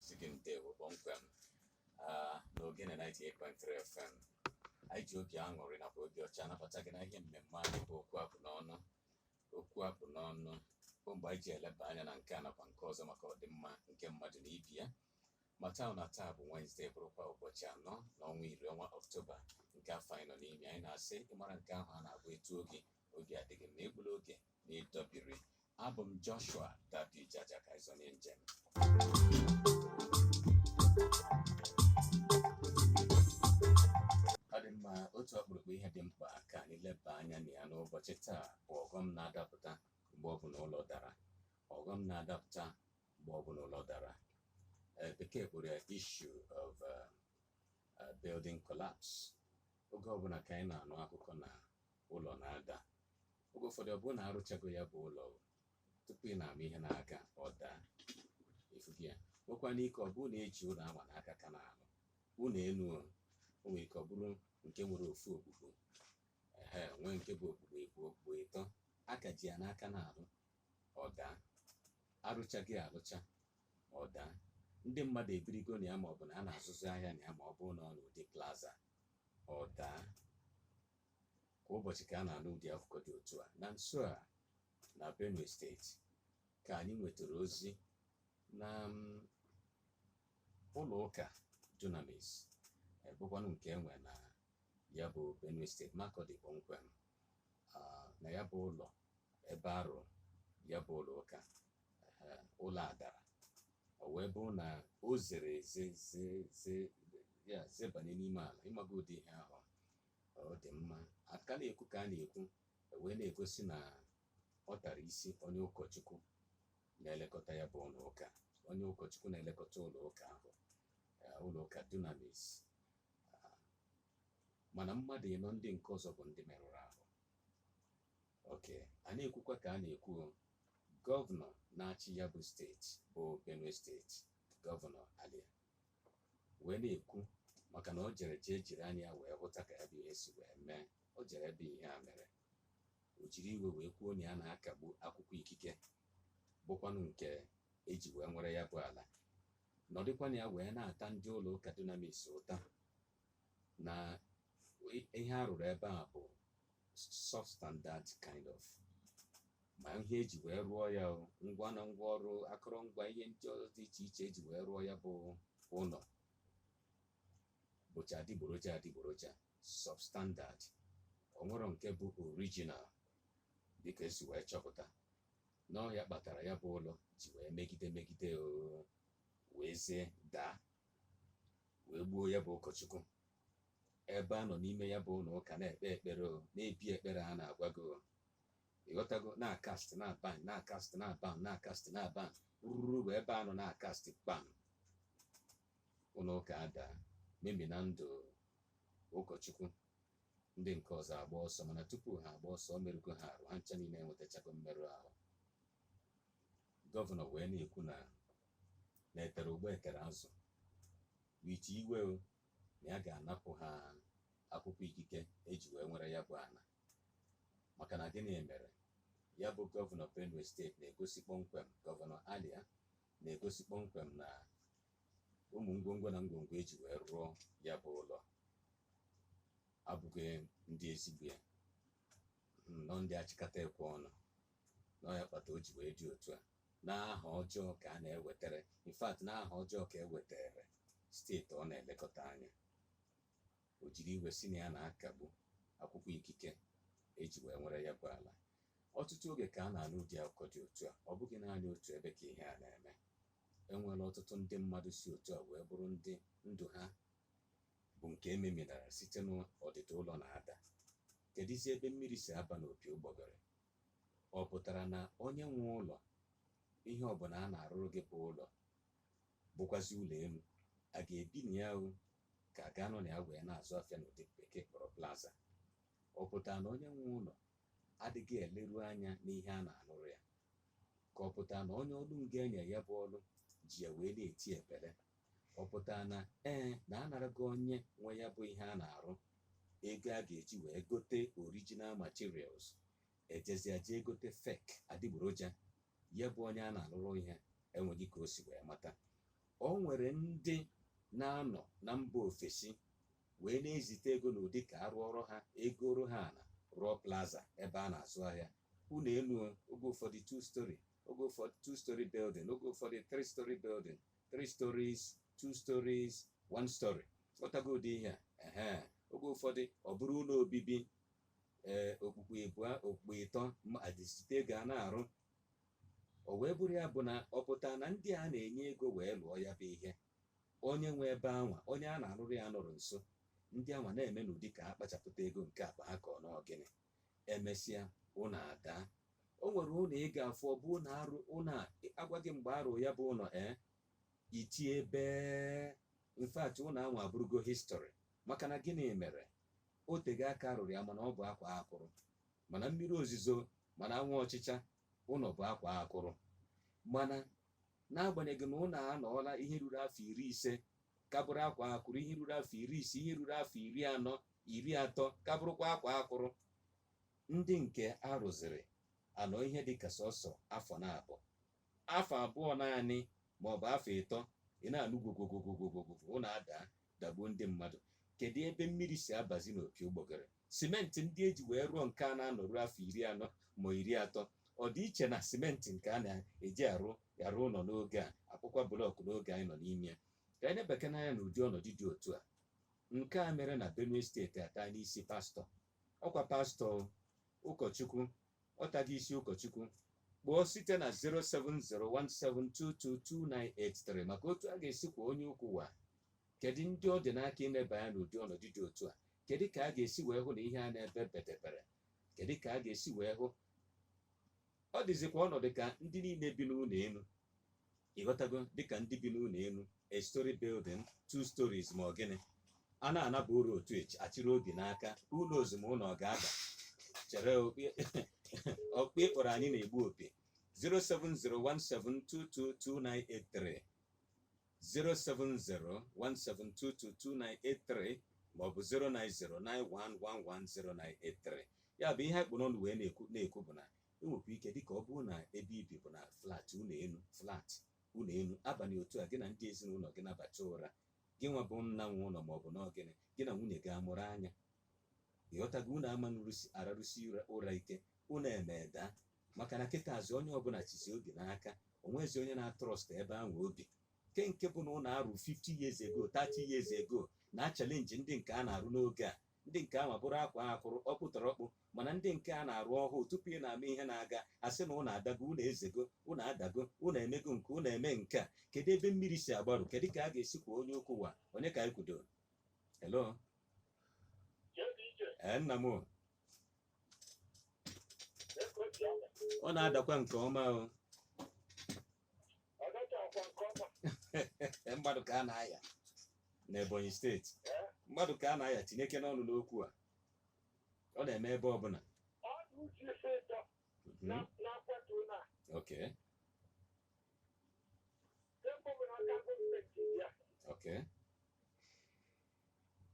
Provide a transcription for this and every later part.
sị gị ndewo kpọmkwem ah, na Ogene 98.3 FM anyị ji obi aṅụrị nakwa obi ọcha anabata gị na ihe mmemme anyị bụ okwu a kpụ n'ọnụ okwu a kpụ n'ọnụ bụ mgbe anyị ji eleba anya na nke a nakwa nke ọzọ maka ọdịmma nke mmadụ na ibe ya mata na taa bụ Wenesde bụrụkwa ụbọchị anọ na ọnwa iri ọnwa Ọktoba nke afọ anyị nọ n'ime anyị na-asị ị mara nke ahụ a na-agba etu oge oge adịghị mma egbula oge n'itobiri abụ m joshua dadi jaja ka ịzọ na njem ọ dị mma otu ọkpụrụkpụ ihe dị mkpa ka anyị leba anya na ya n'ụbọchị taa bụ ọghọm na-adapụta mgbe ọ bụla ụlọ dara ọghọm na-adapụta mgbe ọ bụla ụlọ dara Eh, bekee kpọrọ ya issue of eh, eh, building collapse oge ọbụla ka anyị na-anụ akụkọ na ụlọ na-ada oge ụfọdụ ọ bụrụ na a rụchago ya bụ ụlọ tupu ị na-ama ihe a na-akọ ọ daa efughị ya nwekwana ike ọ bụrụ na e ji ụlọ ahụ n'aka ka na-alụ ụlọ elu o nwere ike ọ bụrụ nke nwere ofu okpukpu e nwee nke bụ okpukpu ịbụọ okpukpu ịtọ a ka ji ya n'aka na-alụ ọ daa arụchaghị arụcha ọ daa ndị mmadụ ebirigo na ya ma ọ bụ na a na-azụzi ahịa na ya ma ọ bụrụ na ọ n'ụdị plaza ọ daa kwa ụbọchị ka a na-anụ ụdị akụkọ dị otu a na nso a na benue steeti ka anyị nwetara ozi na mm, ụlọ ụka dunamis bụkwanụ nke e nwe na ya bụ benue steeti makurdi kpọmkwem ah, na ya bụ ụlọ ebe a rụ ya bụ ụlọ ụka eh, ụlọ a dara o wee bụrụ na o zere eze ze- ze- ya zebanye n'ime ala ịmaga ụdị ihe ahụ ọ dị mma a ka na-ekwu ka a na-ekwu e wee na-egosi na ọ tara isi onye ụkọchukwu na-elekọta ya bụ ụlọ ụka onye ụkọchukwu na-elekọta ụlọ ụka ahụ eh, ụlọ ụka dunamis ah, mana mmadụ ịnọ ndị nke ọzọ bụ ndị merụrụ ahụ okay a na-ekwukwa ka a na-ekwu gọvanọ na-achị ya bụ steeti bụ benue steeti gọvanọ alia wee na-ekwu maka na o jere jee jiri anya ya wee hụta ka ya bụ ihe si wee mee o jere ebe ihe a mere o jiri iwe wee kwuo na ya na-akagbu akwụkwọ ikike bụkwanụ nke e ji wee nwere ya bụ ala nọdịkwa na ya wee na-ata ndị ụlọ ụka dunamis ụta na ihe a rụrụ ebe a bụ substandard kind of ma ihe eji wee rụọ ya o, ngwa na ngwa ọrụ akọrọngwa ihe ndị ọzọ dị iche iche eji wee rụọ ya bụ ụlọ bụcha adịgboroja adịgboroja substandard o nwerọ nke bụ original dịka esi wee chọpụta na ọ ya kpatara ya bụ ụlọ ji wee megide megide o wee zie daa wee gbuo ya bụ ụkọchukwu ebe a nọ n'ime ya bụ ụlọ ụka na-ekpe ekpere o na-ebi ekpere a na-agwa gị o ịghọtago na-acast na-abind na-acast na-abind na-acast na-abind ruru bụ ebe a nọ na-acast kpam ụlọ ụka ada memina ndụ ụkọchukwu ndị nke ọzọ agba ọsọ mana tupu ha agba ọsọ o merụgo ha arụ ha ncha niile enwetachago mmerụ ahụ gọvanọ wee na-ekwu na na etere ụgba etere azụ with iwe o na ya ga-anapụ ha akwụkwọ ikike eji wee nwere ya bụ ana maka na gịnị mere ya bụ gọvanọ benue steeti na-egosi kpọmkwem gọvanọ alia na-egosi kpọmkwem na ụmụ ngwongwo na ngwongwo eji wee rụọ ya bụ ụlọ abụghị ndị ezigbo ya na ọ ndị achịkata ekwe ọnụ na ọ ya kpata o ji wee dị otu a na aha ọjọọ ka a na-ewetara in fact na aha ọjọọ ka ewetara steeti ọ na-elekọta anya o jiri iwe sị na ya na-akagbu akwụkwọ ikike eji wee nwere ya bụ ala ọtụtụ oge ka a na-anụ ụdị akụkọ dị otu a ọ bụghị naanị otu ebe ka ihe a na-eme enwere ọtụtụ ndị mmadụ si otu a wee bụrụ ndị ndụ ha bụ nke ememinara site n'ọdịda ụlọ na-ada kedụzi ebe mmiri si aba n'opi ụgbọgọrọ Ọ pụtara na onye nwe ụlọ, ihe ọbụla a na-arụrụ gị bụ ụlọ, bụkwazi ụlọ elu, a ga-ebi na ya o, ka a ga-anọ na ya wee na-azụ afịa n'ụdị bekee kpọrọ plaza. Ọ pụtara na onye nwe ụlọ adịghị eleru anya n'ihe a na-alụrụ ya. Ka ọ pụtara na onye ọlụ ngo enye ya bụ ọlụ ji ya wee na-eti epele ọ pụtara na ee na anarago onye nwe ya bụ ihe a na-arụ ego a ga-eji wee gote original materials ejezia jee gote fake adịgboroja ya bụ onye a na-alụrụ ihe enweghị ka o si wee mata o nwere ndị na-anọ na mba ofesi wee na-ezite ego n'ụdị ka a rụọrọ ha ego ọrụ ha na rụọ plaza ebe a na-azụ ahịa ụlọ elu oge ụfọdụ two story oge ụfọdụ two story building oge ụfọdụ three story building three stories two stories one story ghọtago ụdị ihe a ehe oge ụfọdụ ọ bụrụ ụlọ obibi ee okpukpu ịbụọ okpukpu ịtọ ma adịsite ego a na-arụ o wee bụrụ ya bụ na ọ pụta na ndị a na-enye ego wee lụọ ya bụ ihe onye nwe ebe anwa onye a na-arụrụ ya nọrọ nso ndị anwa na-eme n'ụdị ka ha kpachapụta ego nke akpa ha ka ọ n'ọgịnị emesịa ụlọ adaa o nwere ụlọ ị ga-afụ ọ bụ ụlọ arụ ụlọ a agwa gị mgbe arụ ya bụ ụlọ ee iti ebe in fact ụlọ anwa abụrụgo history maka na gịnị mere o tego aka arụrụ ya mana ọ bụ akwaa akwụrụ ma na mmiri ozizo ma na anwụ ọchịcha ụlọ bụ akwaa akwụrụ mana n'agbanyeghị na ụlọ anọọla ihe ruru afọ iri ise ka bụrụ akwaa akwụrụ ihe ruru afọ iri ise ihe ruru afọ iri anọ iri atọ ka bụrụkwa akwaa akwụrụ ndị nke a rụziri anọọ ihe dị ka sọsọ afọ na abụọ afọ abụọ naanị ma ọ bụ afọ ịtọ ị na-anụ gwogwogwogwogwogwo ụlọ adaa dagbuo ndị mmadụ kedu ebe mmiri si abazi n'opi ụgbọgụrụ simenti ndị e ji wee rụọ nke a na-anọru afọ iri anọ ma iri atọ ọ dị iche na simenti nke a na-eji arụ arụ ụlọ n'oge a a kpụkwa blọkụ n'oge anyị nọ n'ime ya ka anyị nebekene anya na ụdị ọnọdụ dị otu a nke a mere na benue steeti ata n'isi pastọ ọkwa pastọ ụkọchukwu ọtaghị isi ụkọchukwu kpọọ site na 07017222983 maka otu a ga-esi kwọ onye ukwu wa kedu ndị ọ dị n'aka ineba anya n'ụdị ọnọdụ dị otu a kedu ka a ga-esi wee hụ na ihe a na-ebe bedebere kedu ka a ga-esi wee hụ ọ dịzikwa ọnọdụ ka ndị niile bi n'ụlọ elu ịghọtago dịka ndị bi n'ụlọ elu a story building two stories ma ọ gịnị a na-anaba ụra uchichi a chịrị obi n'aka ụlọ ozugbo ụlọ ọ ga-ada chere ọkpụ ịkpọrọ anyị na-egbu opi 07017222983 07017222983 maọbụ 09091110983 ya bụ ihe anyị kpụ n'ọnụ wee na-ekwu bụ na E nwekwa ike dịka ọ bụrụ na ebe i bi bụ na flat ụlọ elu flat ụlọ elu abalị otu a gị na ndị ezinụlọ gị nabacha ụra gị nwa bụ nna nwe ụlọ ma ọ bụ n'ọgịnị gị na nwunye gị amụrụ anya ịghọtago unu ama na-ararụsi ụra ike ụnọ emee daa maka na kịtazị onye ọbụla chịzi obi n'aka o nwezi onye na-atrust ebe anwa o bi nke nke bụ na ụlọ arụ 50 years ago 30 years ago na-achallenge ndị nke a na-arụ n'oge a ndị nke anwa bụrụ akwaa akwụrụ ọkpụtọrọkpụ mana ndị nke a na-arụ ọhụụ tupu ị na-ama ihe na-aga a sị na ụnọ adago ụnọ ezego ụnọ adago ụnọ emego nke ụnọ emee nke a kedu ebe mmiri si agbarụ kedu ka a ga-esi kwọ onye ukwu wa onye ka anyị kwudo hello ee nna m o. ọ na-adakwa nke ọma o mmadụ ka a na-aya n'ebonyi steeti mmadụ ka a na-aya tinyekene ọnụ n'okwu a ọ na-eme ebe ọbụla Mhm. ok ok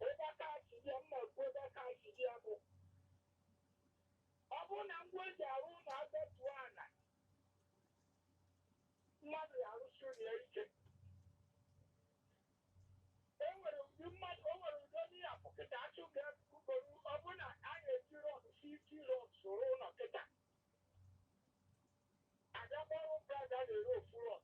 Ebe aka ha si dị ya, m na-ekwu ebe aka ha si dị ya bụ ọ bụrụ na ngwa e ji arụ ụlọ adọtuo ala mmadụ ya-arụsi ụlọ ya ike e nwere ụdị mmadụ o nwere ụdị onye ya bụ kịta achụ ga-ebugoru ọ bụrụ na a ga-eji rọd fifty rọd soro ụlọ kịta abịakwa ọrụ praịz a na-ere ofu rọd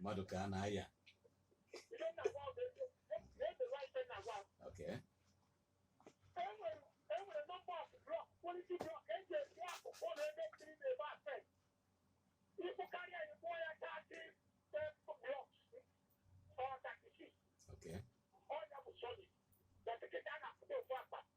mmadụ ka a na-aya okay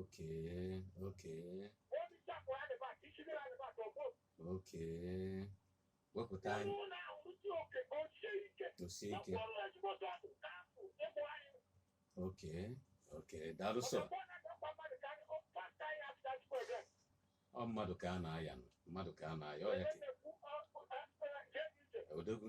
Okay, okay. Okay. Wepụta anyị. Tosie ike. Okay, okay. Daalụ sọ. Ọ mmadụ ka a na-aya nụ. Mmadụ ka a na-aya. Ọ ya ka. Odogwu.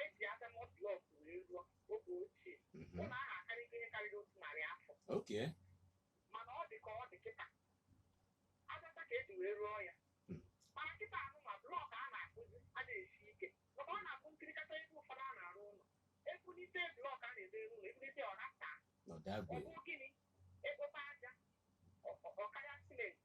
e ji aja mọd blọk wee rụọ oge ochie Mhm. ụlọ ahụ akarịgo ihe karịrị otu narị afọ oke mana ọ dị ka ọ dị kịta aja ọcha ka e ji wee rụọ ya Mm. mana kịta ahụ ma blọk a na-akụzi anaghị esi ike maka ọ na-akụ nkirikata ebe ụfọdụ a na-arụ ụlọ ebulite blọk a na-ede elu ụlọ ebulite ọ na-ata ọ ọdagwe bụ gịnị ekpote aja ọ- ọ- ọ karịa simenti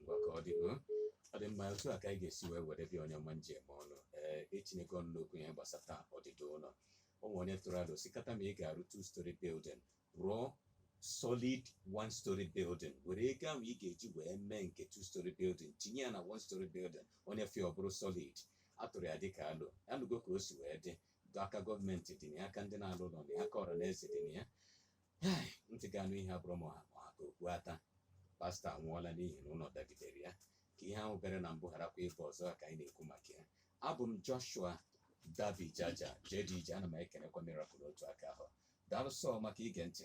ngwa ka ọ dị o ọ dị mma otu a ka anyị ga-esi wee were bịa onye ọma njem ọnụ ee etinyego ọnụ n'okwu ihe gbasata ọdịda ụlọ o nwere onye tụrụ alo sị kata ma ị ga-arụ two story building rụọ solid one story building were ego ahụ ị ga-eji wee mee nke two story building tinye ya na one story building onye fee ọ bụrụ solid a tụrụ ya dịka alo anụgo ka o si wee dị aka gọọmenti dị na ya aka ndị na-alụ ụlọ dị ya aka ọra na eze dị na ya ntị ga-anụ ihe abụrọ ma ọ ha ka okpu ata pastọ anwụọla n'ihi na ụlọ dagidere ya ka ihe ahụ mere na mbụ gharakwa ịbụ ọzọ ka anyị na-ekwu maka ya abụ m Joshua David Jaja JDJ ana m ekenekwa Miracle otu aka ahụ daalụ sọ maka ige ntị